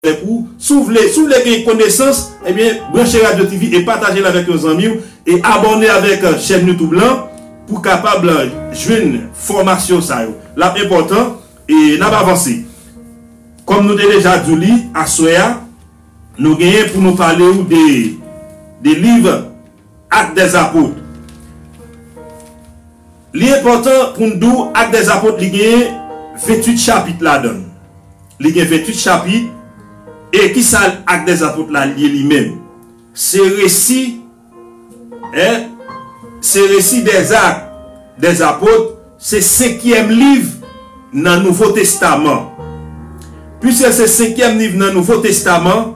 Tankou, si w vle, si w vle gen konesans, ebyen branche Radio TV e pataje l avèk yon zanmi w e abòne avèk chèn YouTube lan pou w kapab jwenn fòmasyon sa yo. L ap enpòtan e n ap avanse. Kòm nou te deja di w li, aswè a, nou genyen pou nou pale w de, de liv. Actes des Apôtres Li enpòtan pou n di w Actes des Apôtres li gen 28 chapit ladan l. Li gen 28 chapit e ki sa Actes des Apôtres la ye li menm? Se resi è se resi dè zak dè zapot se senkyèm liv nan nouvo testaman. Piske se senkyèm liv nan nouvo testaman.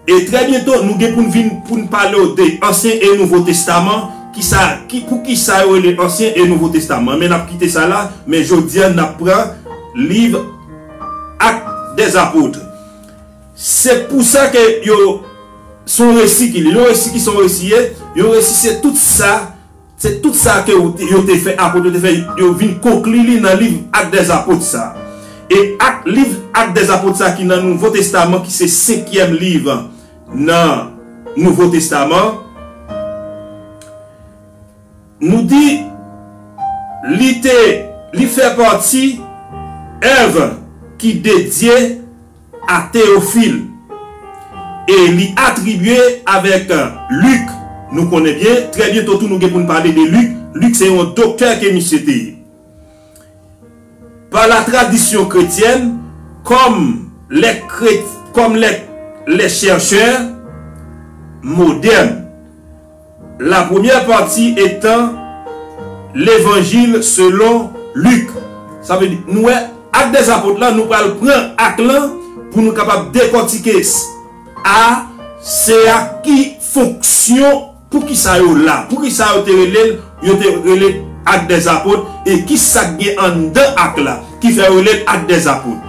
E trè byento nou gen pou n vin pou n pale w de Ansyen e Nouvo Testaman, ki sa ki pou ki sa yo rele Ansyen e Nouvo Testaman. Men n ap kite sa la, men jodi an n ap pran liv Ak dè Zapotre. Se pou sa ke yo s on resi ki li l on resi ki sa on resi ye? Yon resi se tout sa Se tout sa ke yo te fè, Apot yo te fè, yo vin konkli li nan Liv Ak dè Apot sa. E ak Liv Ak dè Apot sa ki nan Nouvo Testaman ki se senkyèm liv nan Nouvo Testaman, nou di li te, li fè pati èv ki dedye A Théophile. E li atribye avèk Luc, nou konnen byen, trè byento tou nou gen pou n pale de Luc, Luc se yon doktè ke misye te ye. Pa la tradisyon kretyèn, kòm lè kret, kòm lè lè chèrchè modèn. La premyè pati etan Levanjil selon Lik. Sa vle di, nou wè Ak dè Apot la, nou pral pran Ak lan pou nou kapab dekòtike s a, s a ki fonksyon, pou ki sa yo la, pou ki sa yo te rele l, yo te rele Ak dè Apot, e ki sa k gen anndan Ak la ki fè yo rele l Ak dè Apot.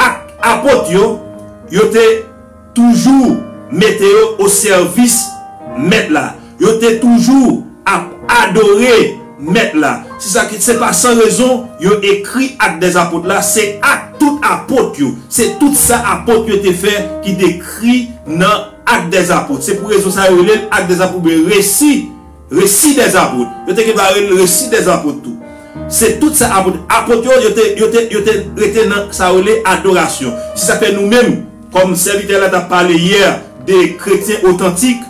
Ak Apot yo, yo te toujou mete yo osèvis Mèt la. Yo te toujou ap adore Mèt la. Se sa ki, se pa san rezon yo ekri Actes des Apôtres la, se ak tout Apot yo. Se tout sa Apot yo te fè ki dekri nan Actes des Apôtres. Se pou rezon sa yo rele l Actes des Apôtres oubyen Resi Resi dè Apot. Yo te gen pou rele l Resi dè Apot tou. Se tout sa Apot. Apot yo, yo te, yo te, yo te rete nan sa yo rele adorasyon. Se sa k fè nou menm, kòm sèvitè la t ap pale yè de kretyen otantik,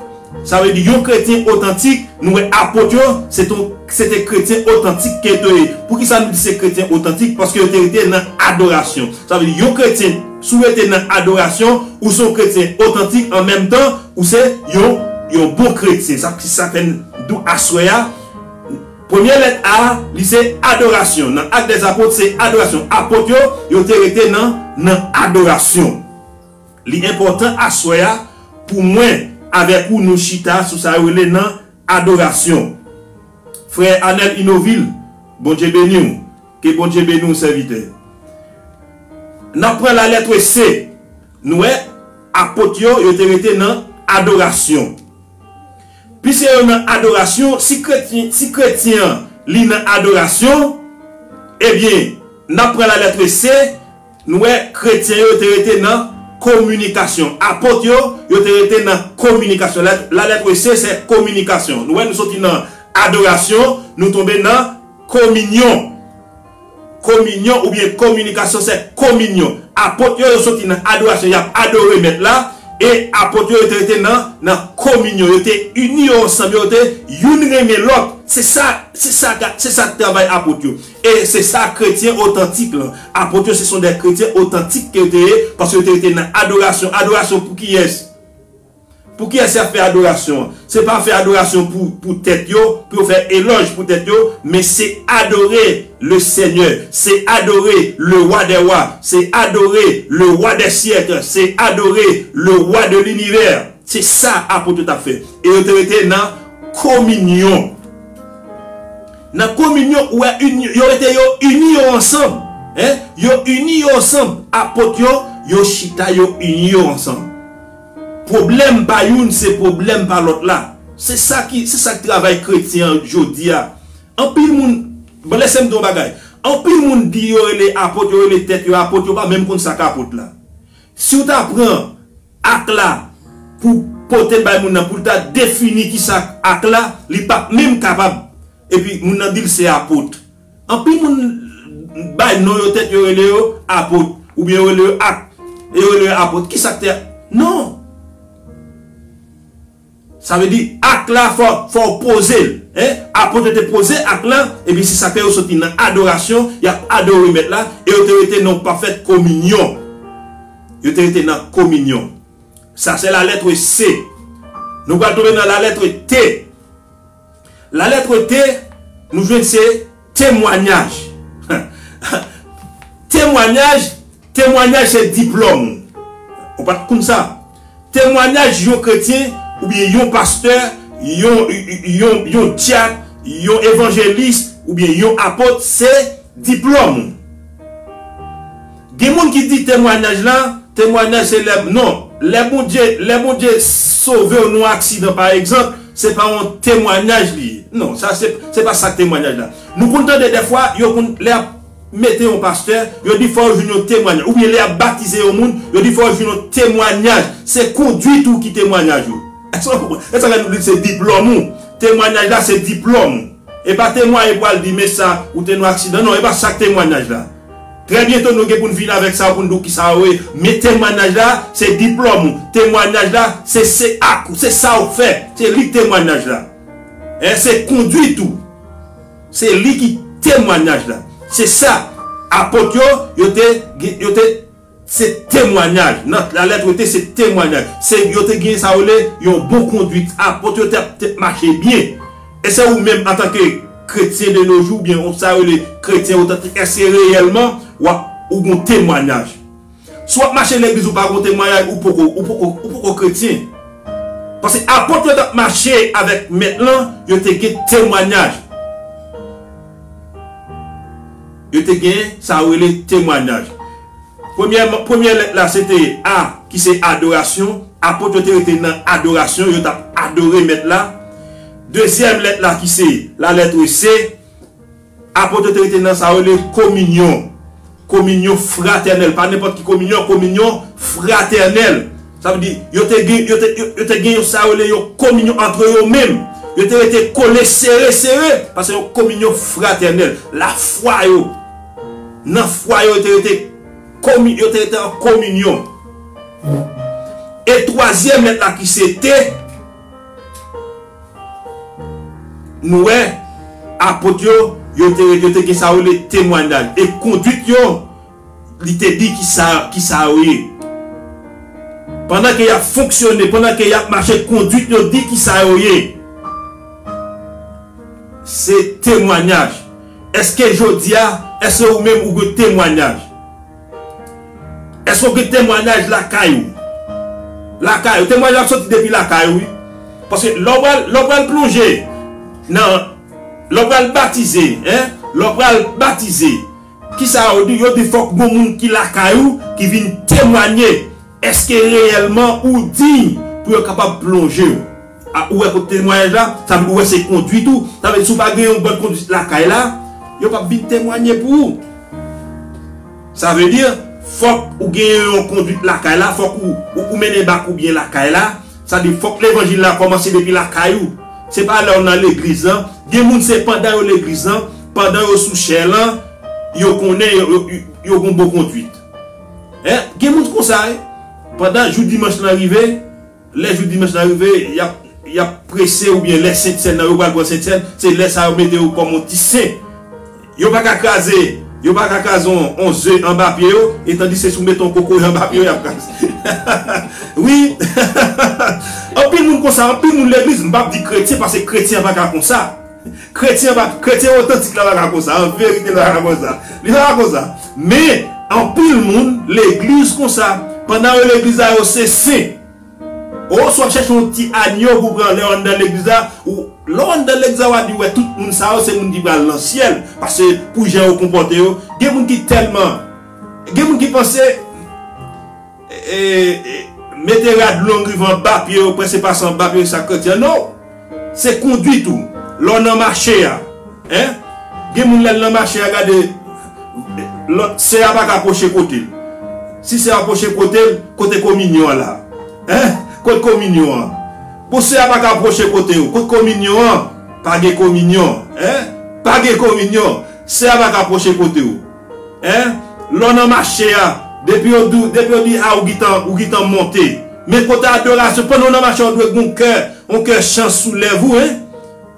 sa vle di yon kretyen otantik, nou wè Apot yo, se te yon, se te kretyen otantik ke yo ye. Pou ki sa nou di se kretyen otantik? Paske yo te rete nan adorasyon. Sa vle di yon kretyen, si w rete nan adorasyon, ou se yon kretyen otantik an menm tan, Ou se yon yon bon kretyen. Sa ki sa fè n di w aswè a, premye lèt A a, li se adorasyon. Nan Actes des Apôtres, se adorasyon. Apot yo, yo te rete nan nan adorasyon. Li enpòtan aswè a pou mwen avèk ou nou chita sou sa yo rele nan adorasyon. Frè Anel Inovil, Bondye beni w. Ke Bondye beni w sèvitè. N ap pran lalètre C. Nou wè, Apot yo, yo te rete nan adorasyon. Piske yo nan adorasyon, si kretyen, si kretyen an, li nan adorasyon, ebyen, n ap pran lalètre se, nou wè, kretyen yo te rete nan kominikasyon. Apot yo, yo te rete nan kominikasyon. Lèt, lalètre se, se kominikasyon. Nou wè, nou soti nan adorasyon, nou tonbe nan kominyon. Kominyon oubyen kominikasyon se kominyon. Apot yo yo soti nan adorasyon y ap adore Mèt la, e Apot yo yo te rete nan nan kominyon. Yo te ini yo ansanm, yo te youn renmen lòt. Se sa, se sa ga, se sa travay Apot yo. E se sa kretyen otantik lan. Apot yo se son dè kretyen otantik ke yo te ye, paske yo te rete nan adorasyon. Adorasyon pou kiyès? Pou kiyès y ap fè adorasyon an? Se pa fè adorasyon pou tèt yo, pou yo fè elòj pou tèt yo, men se adore Lesenyè, se adore Lewadèwa, se adore Lewadèsyèk, se adore Lewa de linivè. Se sa apot yo t ap fè. E yo te rete nan kominyon. Nan kominyon, ou wè, yo rete yo ini yo ansanm. Yo ini yo ansanm. Apot yo, yo chita yo ini yo ansanm. Pwoblèm pa youn se pwoblèm pa lòt la. Se sa ki se sa k travay kretyen an jodi a. Anpil moun Bon lèse m di w yon bagay Anpil moun di yo rele apot yo rele tèt yo apot yo pa menm konn sa k apot la Si w ta pran ak la pou w pote l bay moun nan pou l ta defini ki sa ak la li pap menm kapab epi moun nan di l se apot. Anpil moun bay non yo tèt yo rele yo apot oubyen yo rele yo ak e yo rele yo apot kisa k te non sa vle di ak la fò fò w poze l en apot yo te poze ak lan epi se sak fè yo soti nan adorasyon y ap adore mèt la e yo te rete nan pafè kominyon yo te rete nan kominyon sa se la lètre se nou pral tonbe nan la lètre te. Lalètre te nou jwenn se temwanyaj. Temwanyaj, temwanyaj se diplòm ou. Ou pa t konn sa? Temwanyaj yon kretyen oubyen yon pastè, yon yon dyak, yon evanjelis oubyen yon apot se diplòm ou. Gen moun ki di temwanyaj la, temwanyaj se lè, non, lè Bondye, lè Bondye sove w nan yon aksidan pa egzanp, se pa yon temwanyaj li ye. Non, sa se, se pa sa temwanyaj la. Nou konn tande dèfwa, yo konn, lè y ap mete yon pastè, yo di fò yo jwenn yon temwanyaj. Oubyen lè y ap batize yon moun, yo di fò yo jwenn yon temwanyaj. Se konduit ou ki temwanyaj ou. Èske ou konprann? Se sa k fè nou di l se diplòm ou. Temwanyaj la se diplòm ou. Epa temwaye pou al di men sa ou te nou aksidan non epa sak temwanaj la trè byento nou gen poun vin avèk sa poun di w kisa ou ye men temwanaj la se diplòm ou temwanaj la se se ak ou se sa ou fè se li temwanaj la en se konduit ou se li ki temwanaj la se sa apot yo yo te yo te. Se temwanyaj, nan la lettre te se temwanyaj, se yo te gen sa yo rele yon bon konduit, apot yo te te mache byen. E se ou menm antanke kretyen de no jou oubyen ou sa yo rele kretyen otantik èske reyèlman w ap ou gen yon temwanyaj? Si w ap mache legliz ou pa gen yon temwanyaj ou poko ou poko ou poko kretyen. Paske apot yo t ap mache avèk Mèt lan, yo te gen temwanyaj. Yo te gen sa yo rele temwanyaj. Premyèman, premyè lèt la se te A ki se adorasyon. Apot yo te rete nan adorasyon, yo t ap adore Mèt la. Dezyèm lèt la ki se lalètre C, apot yo te rete nan sa yo rele kominyon, kominyon fratènèl. Pa nenpòt ki kominyon, kominyon fratènèl. Sa vle di, yo te gen, yo te, yo te gen yon sa yo rele yon kominyon antre yo menm. Yo te rete kole sere sere, paske yon kominyon fratènèl. Lafwa yo, nan fwa yo, yo te rete komi, yo te rete an kominyon. E twazyèm lèt la ki se te, nou wè, Apot yo, yo te, yo te gen sa yo rele temwanyaj. E konduit yo. Li te di, Kisa, kisa yo ye? Pandan ke y ap fonksyone, pandan ke y ap mache, konduit yo di kisa yo ye. Se temwanyaj. Èske jodi a, èske ou menm ou gen temwanyaj? Èske ou gen temwanyaj lakay ou? Lakay ou. Temwanyaj ap soti depi lakay ou wi. Paske lè ou pral, lè ou pral plonje nan, lè ou pral batize, hein, lè ou pral batize. Kisa yo di? Yo di fòk gon moun ki lakay ou ki vin temwanye. Eske reyèlman ou diy pou yo kapab plonje ou? A, ou wè kote temwayaj la? Sa vle di ou wè se konduit ou. Sa vle di si ou pa gen yon bòn konduit lakay la, yo pap vin temwanye pou ou. Sa vle di fòk ou gen yon konduit lakay la, fòk ou ou mennen bak ou byen lakay la. Sa vle di fòk levanjil la kòmanse depi lakay ou, se pa lèw nan legliz lan, gen moun se pandan yo legliz lan, pandan yo sou chè lan yo konnen yo gon bon konduit hein, gen moun konsa wi, pandan jou dimanch lan rive, lè jou dimanch lan rive yap yap prese oubyen lè sentsèn nan yo pral pran sentsèn se lè sa yo mete yo kòm yon ti sen. Yo pa ka kraze Yo pa ka kraze on ze anba pye yo etandi se si w mete on kokoye anba pye yo y ap kraze wi Anpil moun konsa anpil moun legliz m pap di kretyen paske kretyen an pa ka konsa kretyen an pa kretyen otantik la pa ka konsa an verite li pa ka konsa li pa ka konsa men anpil moun legliz konsa pandan yo legliz la yo se sen. Ohh si wap chèche yon ti agneau pou pran lèw anndan legliz la ou lèw anndan legliz la wa di wè tout moun sa yo se moun ki pral nan syèl pase pou jan yo konpòte yo gen moun ki tèlman gen moun ki panse mete rad long rive anba pye yo prèske pase anba pye yo se sak kretyen no. Se kondwit ou lè w nan mache a. Hein gen moun lè l nan mache a gade lòt sè a paka pwoche kote l. Si sè a pwoche kote l kote kominyon an la. Hein kot kominyon an. Bon sè a paka pwoche kote w kot kominyon an. Pa gen kominyon hein. Pa gen kominyon. Sè a paka pwoche kote w. Hein lè w nan mache a depi yo di w depi yo di a ou gintan ou gintan monte men kote adorasyon pandan w nan mache a ou dwe gen yon kè yon kè chan sou lèv ou hein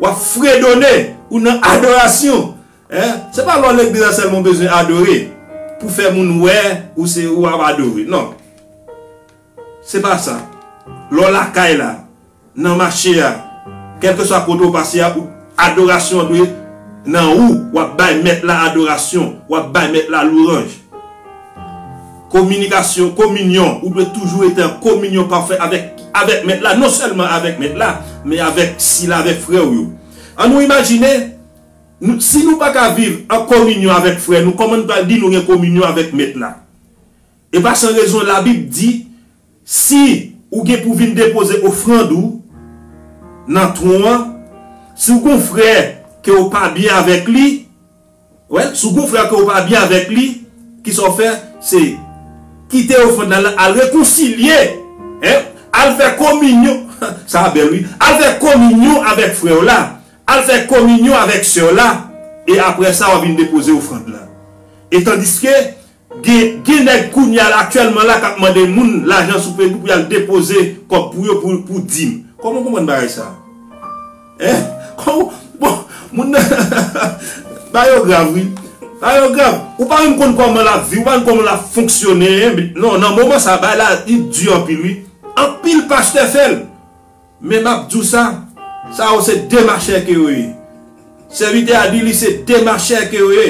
wap fredone ou nan adorasyon hein se pa lè w legliz la sèlman w bezwen adore pou fè moun wè ou se ou ap adore nan. Se pa sa. Lè w lakay la, nan mache a, kèlkeswa kote w pase a, ou, adorasyon an dwe nan ou, w ap bay Mèt la adorasyon, w ap bay Mèt la louranj. Kominikasyon, kominyon, ou dwe toujou rete an kominyon pafè avèk, avèk Mèt la, non sèlman avèk Mèt la, men avèk sila, avèk frè ou yo. An nou imajine, nou, si nou pa ka viv an kominyon avèk frè nou, kòman n pral di nou gen kominyon avèk Mèt la? E pa san rezon Labib di, Si ou gen pou vin depoze ofrand ou nan twon an, si ou gon frè ke ou pa byen avèk li, wèl, si ou gon frè ke ou pa byen avèk li, ki sa ou fè? Se kite ofrand la nan, al rekonsilye, hein, al fè kominyon, sa a bèl wi, al fè kominyon avèk frè ou la, al fè kominyon avèk sè ou la, e apre sa w'ap vin depoze ofrand la. E tandiske, Gen gen nèg kounye a la aktyèlman la kap mande moun lajan sou paypal pou yal depoze kòb pou yo pou pou dim. Kòman ou konprann bagay sa? Hein? Kòman ou bon moun nan bagay yo grav wi. Bagay yo grav. Ou pa menm konn kòman lap viv, ou pa menm kòman lap fonksyone hein. Non nan moman sa bagay la li di anpil wi. Anpil pastè fèl. Men map diw sa, sa yo se demachè ke yo ye. Sèvitè a di li se demachè ke yo ye.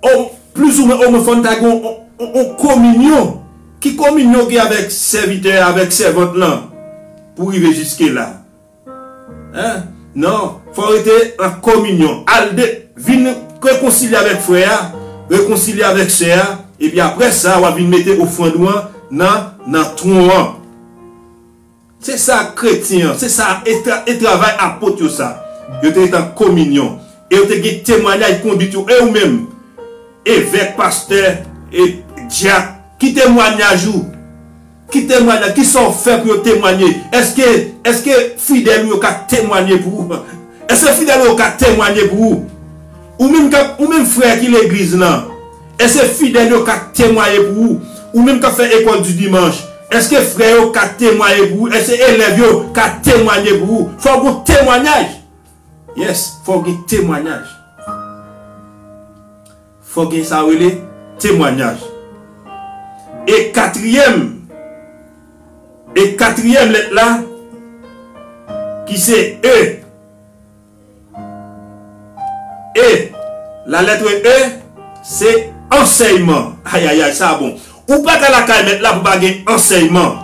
O, plis ou mwen, o mwen fòn ta gen yon kominyon. Ki kominyon gen avèk sèvitè a, avèk sèvant lan pou rive jiske la? Hein? Non, fò rete an kominyon. Al de, vin rekonsilye avèk frè a, rekonsilye avèk sè a, epi aprè sa wap vin mete ofrand ou an nan nan twon an. Se sa kretyen an, se sa e travay apot yo sa. Yo te ret an kominyon, e yo te gen temwanyaj konduit yo. E ou menm, evèk, pastè, e dyak, ki temwanyaj ou? Ki temwanyaj, ki sa ou fè pou yo temwanye? Èske, èske fidèl ou yo ka temwanye pou ou? Èske fidèl ou yo ka temwanye pou ou? Ou menm k'ap, ou menm frè ki legliz lan, Èske fidèl yo ka temwaye pou ou? Ou menm k ap fè Ecole du Dimanche, èske frè yo ka temwaye pou ou? Èske elèv yo ka temwanye pou ou? Fò w gen temwanyaj! Yes, fò w gen temwanyaj. Fò w gen sa yo rele temwanyaj. E katriyèm, e katriyèm lèt la, ki se E. E! La lettre E se ansèyman. Ayayay sa bon. Ou pa ka lakay mèt la pou pa gen ansèyman.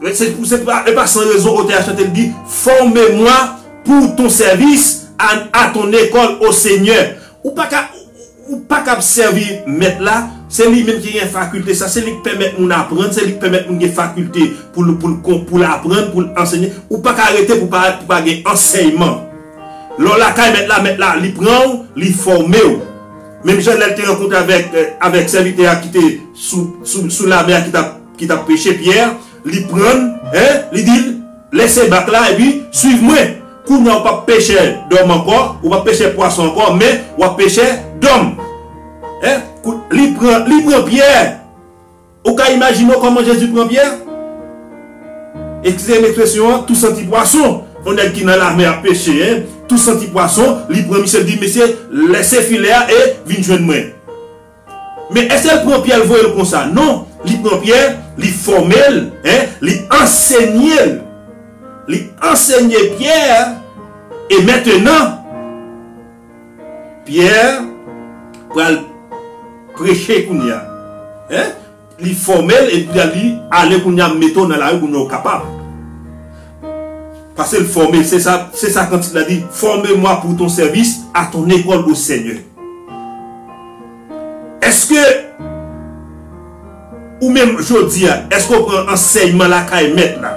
E pa san rezon otè a chante li di, Fòme mwa pou ton sèvis, a ton lekòl, o Senyè. Ou pa ka. Ou pa kab sèvi Mèt la, se li menm ki gen fakilte sa, se li k pèmèt moun aprann, se li k pèmèt moun gen fakilte pou l pou l kon pou l aprann, pou l ansenye. Ou pa ka rete pou pa pou pa gen ansèyman. Lè w lakay Mèt la, Mèt la li pran ou, li fòme ou. Menm jan lè l te rankontre avèk avèk sèvitè a ki te sou sou sou lamè a ki t ap ki t ap peche, Pyè, li pran l, hein, li di l, Lèse bak la epi swiv mwen. Kounya ou pap pechè dòm ankò, ou pap pechè pwason ankò, men wap pechè dòm. He? Kou, li pran, li pran Pyè! Ou ka imajine w kòman Jezi pran Pyè? Ekskize m ekspresyon an, tou santi pwason! On nèg ki nan lamè ap peche, he? Tou santi pwason, li pran misye, li di, Mesye, lèse filè a e vin jwenn mwen. Men èske l pran Pyè l voye l konsa? Non, li pran Pyè, li fòme l, li ansenye l. Li ansenye Pyè e mentenan Pyè pral preche kounye a. Li fòmel epi la li ale kounya m mete w nan lari kounya w kapab pase l fòme l se sa se sa kantik la di fòme mwa pou ton sèvis a ton ekòl o senyè èske ou menm jodi a èske w pran ansèyman lakay mèt la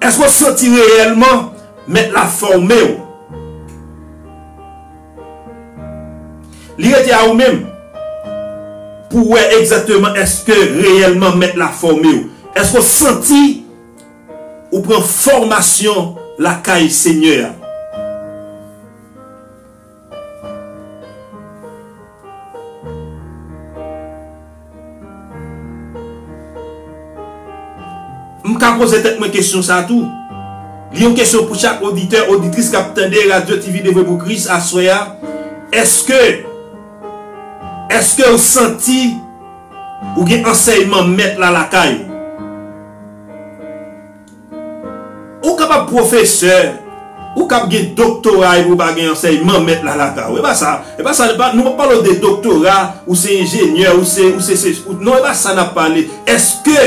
èske w santi reyèlman mèt la fòme w. Li rete a ou menm pou w wè egzakteman èske reyèlman Mèt la fòme w. Èske w santi ou pran fòmasyon lakay Senyè a? M ka poze tèt mwen kesyon sa tou. Li yon kesyon pou chak oditè, oditris k ap tande Radyo TV Devwe Pou Kris aswè a, èske, èske ou santi ou gen ansèyman Mèt la lakay ou? Ou kapab pwofesè, ou kab gen doktora epi ou pa gen ansèyman mèt la lakay ou. E pa sa, e pa sa, nou pap pale w de doktora, ou se enjenyè, ou se, ou se sesi, ou, non e pa sa nap pale. Eske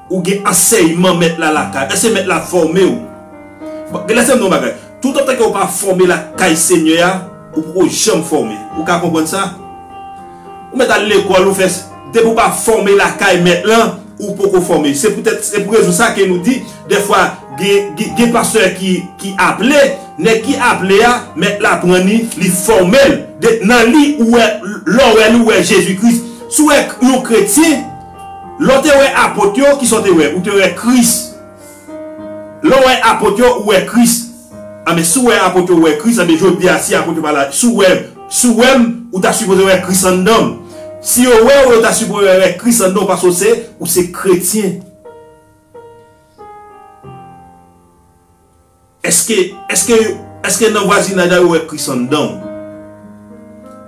ou gen ansèyman mèt la lakay ou? Eske mèt la fòme w? Bon, lèsem di w yon bagay. Toutotan ke ou pa fòme lakay Senyè a, ou poko janm fòme. Ou ka konprann sa? Ou mèt al lekòl, ou fè, depi ou pa fòme lakay Mèt lan, ou poko fòme. Se poutèt, se pou rezon sa ke nou di, dèfwa, gen, gen pastè ki, ki aple, nèg ki aple a, Mèt la pran li, li fòme l. De, nan li, ou wè, lè w wè li, ou wè Jezi Kris. Si w wè yon kretyen, lè w te wè Apot yo, kisa w te wè? Ou te wè Kris. Lè w wè apot yo, ou wè Kris. Anben, si w wè apot yo, ou wè Kris. Anben, jodi a, si apot yo pa la, si w wè, si w wè m, ou ta sipoze wè Kris anndan m. Si yo wè w, yo ta sipoze wè Kris anndan w paske w se, ou se kretyen. Èske, èske, èske nan vwazinaj la yo wè Kris anndan w?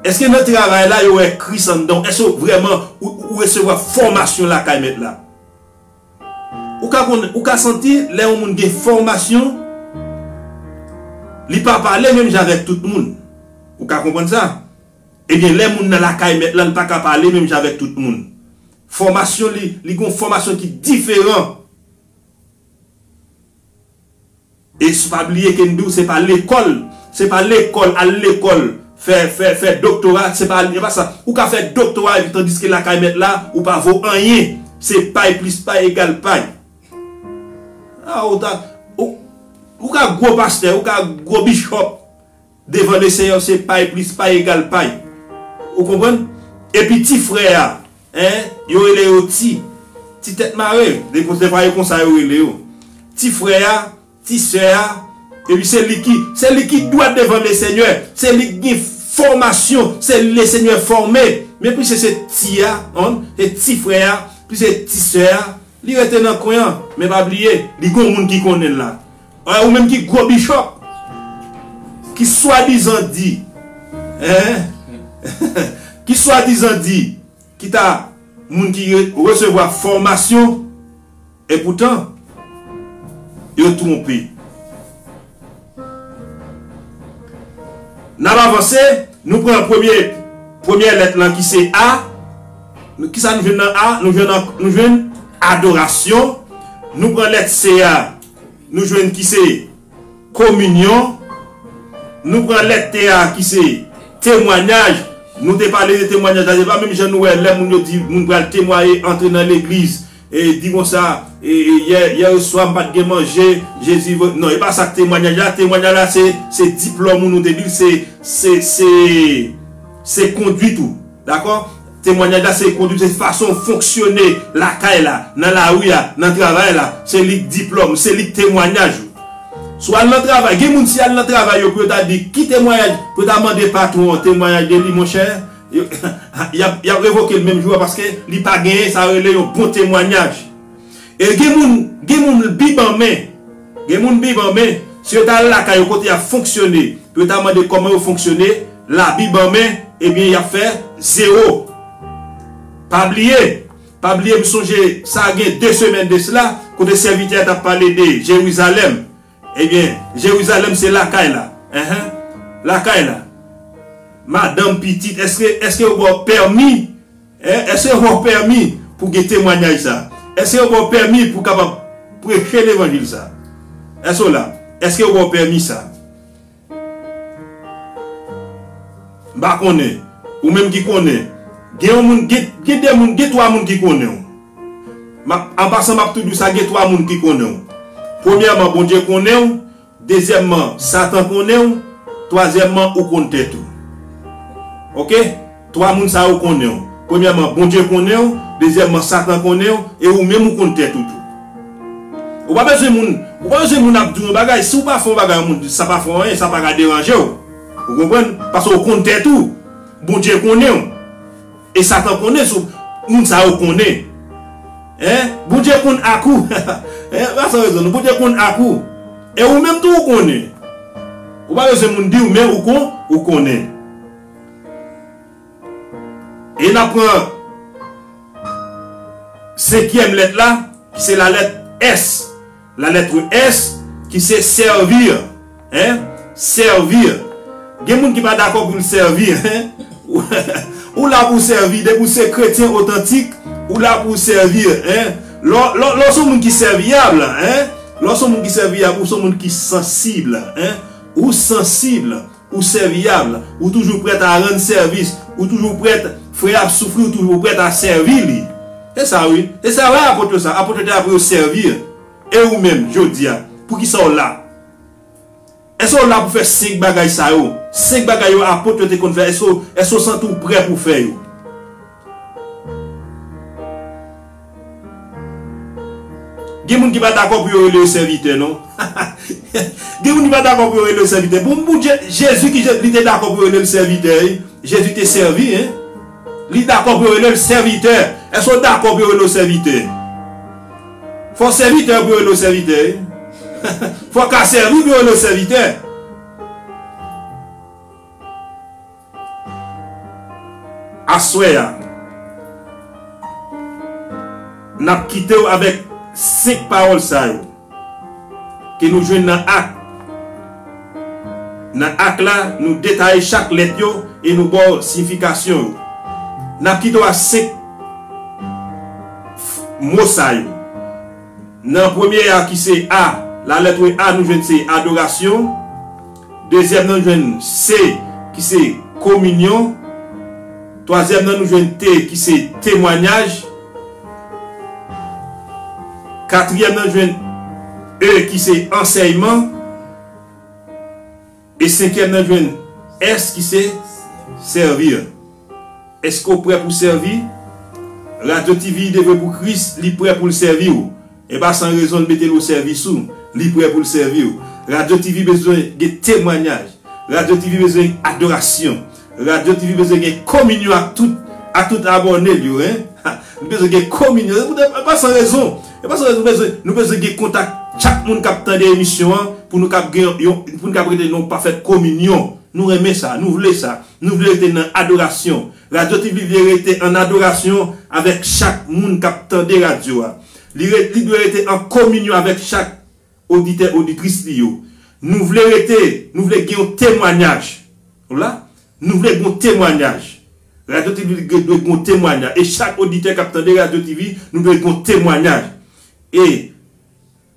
Èske nan travay la yo wè Kris anndan w? Èske w vrèman ou, ou resevwa fòmasyon lakay Mèt la? Ou ka konnen, ou ka santi lè yon moun gen fòmasyon, li pa pale menm jan avèk tout moun. Ou ka konprann sa? Ebyen, lè moun nan lakay mèt lan, li pa ka pale menm jan avèk tout moun. Fòmasyon li, li gen yon fòmasyon ki diferan. Et pa bliye ke m di w se pa lekòl, se pa lekòl, al lekòl, fè, fè, fè doktora, se pa al, e pa sa. Ou ka fè doktora epi tandiske lakay mèt la, ou pa vo anyen. Se pay plis pay egal pay. A ou ta, ou, ou ka gwo pastè, ou ka gwo bishop. Devan Leseyè se pay plis pay egal pay. Ou konprann? Epi ti frè a, hein, yo rele yo ti, ti tèt mare, se pa yo konsa yo rele yo. Ti frè a, ti sè a, epi se li ki, se li ki dwat devan Lesenyè, se li ki gen fòmasyon, se li Lesenyè fòme. Men piske se ti a, hein, se ti frè a, epi se ti sè a, li rete nan kwen an. Men pa bliye, li gen yon moun ki konnen l la. Oy ou menm ki gwo bishop ki swadizan di hein ki swadizan di ki ta moun ki resevwa fòmasyon epoutan yo twonpe nap avanse nou pran premye premyè lèt lan ki se A kisa nou jwenn nan A nou jwenn nou jwenn adorasyon nou pran lèt C a. Nou jwenn ki se kominyon. Nou pran lèt te a ki se temwanyaj. Nou te pale de temwanyaj la se pa menm jan nou wè lè moun yo di moun pral temwaye antre nan legliz e di konsa yèswa m pat gen manje Jezi vre non e pa sa temwanyaj la temwanyaj la se diplòm ou nou te di l se se se se kondwit ou dakò. Temwanyaj la se kondwit, se fason w fonksyone lakay la, nan lari a, nan travay la, se li k diplòm ou, se li k temwanyaj ou. Si w al nan travay, gen moun si y al nan travay yo pou yo ta di ki temwanyaj, pou yo ta mande patwon an temwanyaj de li monchè, y ap y ap revoke l menm jou a paske li pa genyen sa yo rele yon bon temwanyaj. E gen moun, gen moun l bi ban men. Gen moun biban men, si yo ta al lakay yo kote yap fonksyone pou yo ta mande kòman yo fonksyone la biban men ebyen yap fè zewo pa bliye pa bliye m sonje sa gen 2 semèn de sla kote sèvitè a tap pale de Jerizalèm ebyen Jerizalèm se lakay la enh lakay la madanm pitit eske eske yo baw pèmi E, èske yo ba w pèmi pou w gen temwanyaj sa a? Èske yo ba w pèmi pou w kapab preche levanjil sa a? Èske w la? Èske yo ba w pèmi sa a? M pa konnen. Ou menm ki konnen. Gen yon moun, gen, gen de moun, gen twa moun ki konnen w. M ap, an pasan m ap tou di w sa, gen twa moun ki konnen w. Premyèman, Bondye konnen w. Dezyèmman, Satan konnen w. Twazyèmman, ou konn tèt ou. Ok? Twa moun sa yo konnen w. Premyèman, Bondye konnen w. Dezyèmman, Satan konnen w. E ou menm ou konn tèt ou tou. Ou pa bezwen moun, ou pa bezwen moun ap di w yon bagay. Si w pa fè yon bagay yon moun di sa pa fè w anyen, sa pa ka deranje w. Ou konprann? Paske ou konn tèt ou. Bondye konnen w. E satan konnen sou Moun sa yo konnen hein bondye konn ak ou hein pa san rezon non bondye konn ak ou e ou menm tou ou konnen ou pa bezwen moun diw men ou kon ou konnen e nap pran senkyèm lèt la ki se la lèt S. Lalètre S, ki se servir, hein, servir. Gen moun ki pa dakò pou l sèvi, hein. Ou la pou w sèvi. Depi w se kretyen otantik, ou la pou w sèvi, hein. Lè w se yon moun ki sèviyab, hein, lè w se yon moun ki sèviyab, ou se yon moun ki sansib, hein, ou sansib. Ou sèvyab, ou toujou prèt a rann sèvis, ou toujou prèt, frè ap soufri ou toujou prèt a sèvi li. Se sa wi, se sa wè apot yo sa, apot yo te la pou yo sèvi. E ou menm, jodi a, poukisa w la? Èske w la pou fè senk bagay sa yo? Senk bagay yo apot yo te konn fè, èske w santi w prè pou w fè yo? Gen moun ki pa dakò pou yo rele yo sèvitè non. Gen moun ki pa dakò pou yo rele yo sèvitè. Bon pou Dye, Jezi ki li te dakò pou yo rele l sèvitè wi. Jezi te sèvi hein. Li dakò pou yo rele l sèvitè. Èske w dakò pou yo rele w sèvitè? Fò w sèvitè pou yo rele w sèvitè wi. Fò w ka sèvi pou yo rele w sèvitè. Aswè a, n ap kite w avèk senk pawòl sa yo ke nou jwenn nan Ak. Nan Ak la, nou detaye chak lèt yo e nou ba w siyifikasyon yo. N ap kite w ak senk mo sa yo. Nan premye a ki se A, la lettre A nou jwenn se adorasyon. Dezyèm nan nou jwenn se ki se kominyon. Twazyèm nan nou jwenn te ki se temwanyaj. Katriyèm nan jwenn e ki se ansèyman. E senkyèm nan jwenn ès ki se sèvir. Èske w prè pou sèvi? Radyo TV devwe pou Kris, li prè pou l sèvi w. E pa san rezon l mete l o sèvis ou, li prè pou l sèvi w. Radio TV bezwen gen temwanyaj, Radio TV bezwen adorasyon, Radio TV bezwen gen kominyon ak tout ak tout abòne l yo hein, ha li bezwen gen kominyon, e pa san rezon, e pa san rezon nou bezwen nou bezwen gen kontak chak moun k ap tande emisyon an pou nou kab gen yon pou nou kab rete nan yon pafèt kominyon. Nou renmen sa, nou vle sa, nou vle rete nan adorasyon. Radio TV vle rete an adorasyon avèk chak moun k ap tande radyo a. Li re, li dwe rete an kominyon avèk chak oditè, oditris li yo. Nou vle rete, nou vle gen yon temwanyaj. Nou la? Nou vle gen yon temwanyaj. Radyo TV dwe gen yon temwanyaj. E chak oditè k ap tande Radyo TV, nou dwe gen yon temwanyaj. E,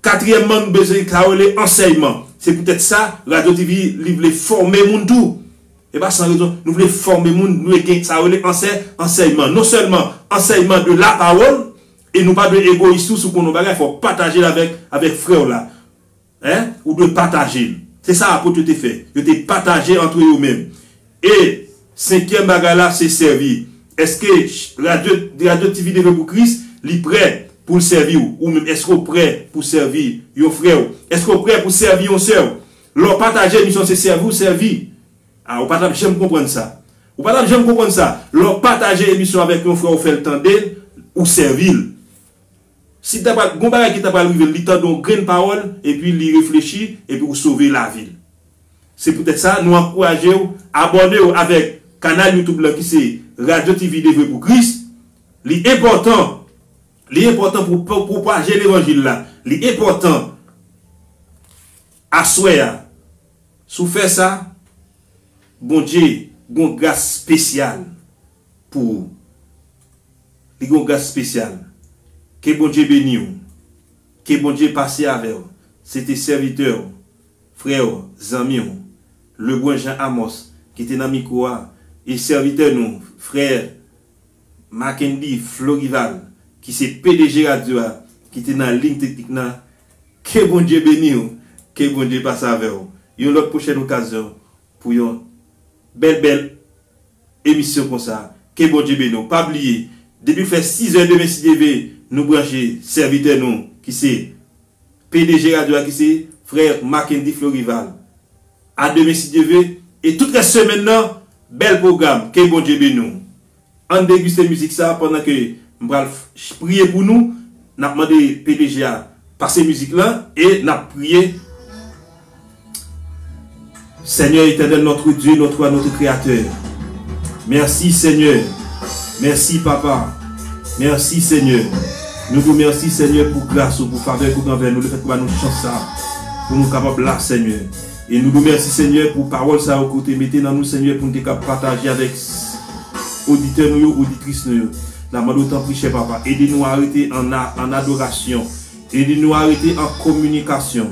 katriyèmman, nou bezwen sa yo rele ansèyman. Se poutèt sa, Radyo TV, li vle fòme moun tou. E pa san rezon. Nou vle fòme moun, nou dwe gen sa yo rele ansè, ansèyman. Non sèlman ansèyman de lapawòl, E nou pa dwe egoyis tou si w konn yon bagay fò w pataje l avèk avèk frè w la. Hein? Ou dwe pataje l. Se sa Apot yo te fè. Yo te pataje antre yo menm. E senkyèm bagay la se sèvi. Èske radyo radyo TV Leve Pou Kris li prè pou l sèvi w? Ou menm èske w prè pou w sèvi yon frè w? Èske w prè pou w sèvi yon sè w? Lè w pataje misyon se sèvi w sèvi. Ah ou pa tap janm konprann sa. Ou pa tap janm konprann sa. Lè w pataje emisyon avèk yon frè ou fè l tande l, ou sèvi l. Si ta pral gon bagay ki ta pral rive l, li tande yon grenn pawòl epi li reflechi epi ou sove lavi l. Se poutèt sa nou ankouraje w abòne w avèk kanal YouTube lan ki se Radio TV Devwe Pou Kris. Li enpòtan, li enpòtan pou w pwopaje levanjil la. Li enpòtan. Aswè a, si w fè sa, Bondye gon gras spesyal pou ou. Li gon gras spesyal. Ke Bondye beni w. Ke Bondye pase avè w. Se te sèvitè w, frè w, zanmi w, Lebrun Jean Amos ki te nan mikwo a, e sèvitè nou, frè Mackendy Florival ki se pdg radyo a ki te nan liy teknik nan. Ke Bondye beniw, ke Bondye pase avèw yon lòt pwochèn okazyon pou yon bèl bèl emisyon konsa, ke Bondye beniw pa bliye depiw fè 6 è demen si Dye ve nou branche sèvitè nou ki se pdg radyo a ki se frè Marckendy Florival a demen si Dye ve e tout rès semèn nan bèl pwogram ke Bondye beniw. Ann deguste mizik sa pandan ke m pral priye pou nou, nap mande pdg a pase mizik la e nap priye. Sègnè etènèl nòtre Dye nòtre a nòtre kreyatè mèsi sègnè mèsi papa mèsi sègnè nou di w mèsi sègnè pou gras ou pou favè kout anvè nou lefètke ou ba nou chans sa pou nou kapab la sègnè. E nou do mèsi senyè pou pawòl sa yo ke ou te mete nan nou senyè poun te kab pataje avèk oditè nou yo oditris nou yo na mande w tanpri chè papa ede nou a rete an adorasyon ede nou a rete an kominikasyon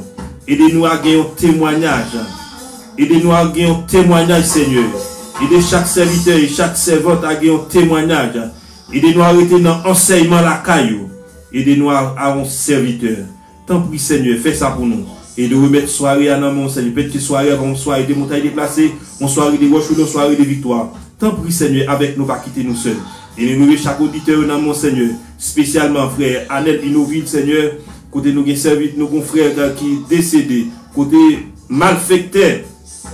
ede nou a gen yon temwanyaj ede nou a gen yon temwanyaj senyè ede chak sèvitè e chak sèvant a gen yon temwanyaj ede nou a rete nan ansèyman lakay ou ede nou a yon sèvitè Tanpri Senyè fè sa pou nou. E nou remèt sware a nan men w Senyè. Pèt ke sware a pa yon sware de montay deplase, yon sware de wòch oubyen yon sware de viktwa. Tanpri Senyè avèk nou pa kite nou sèl. E nou remèt chak oditè yo nan men w Senyè. Spesyalman frè Anel Inovil Senyè, kote nou gen sèvit nou gon frè ki desede, kote malfektè.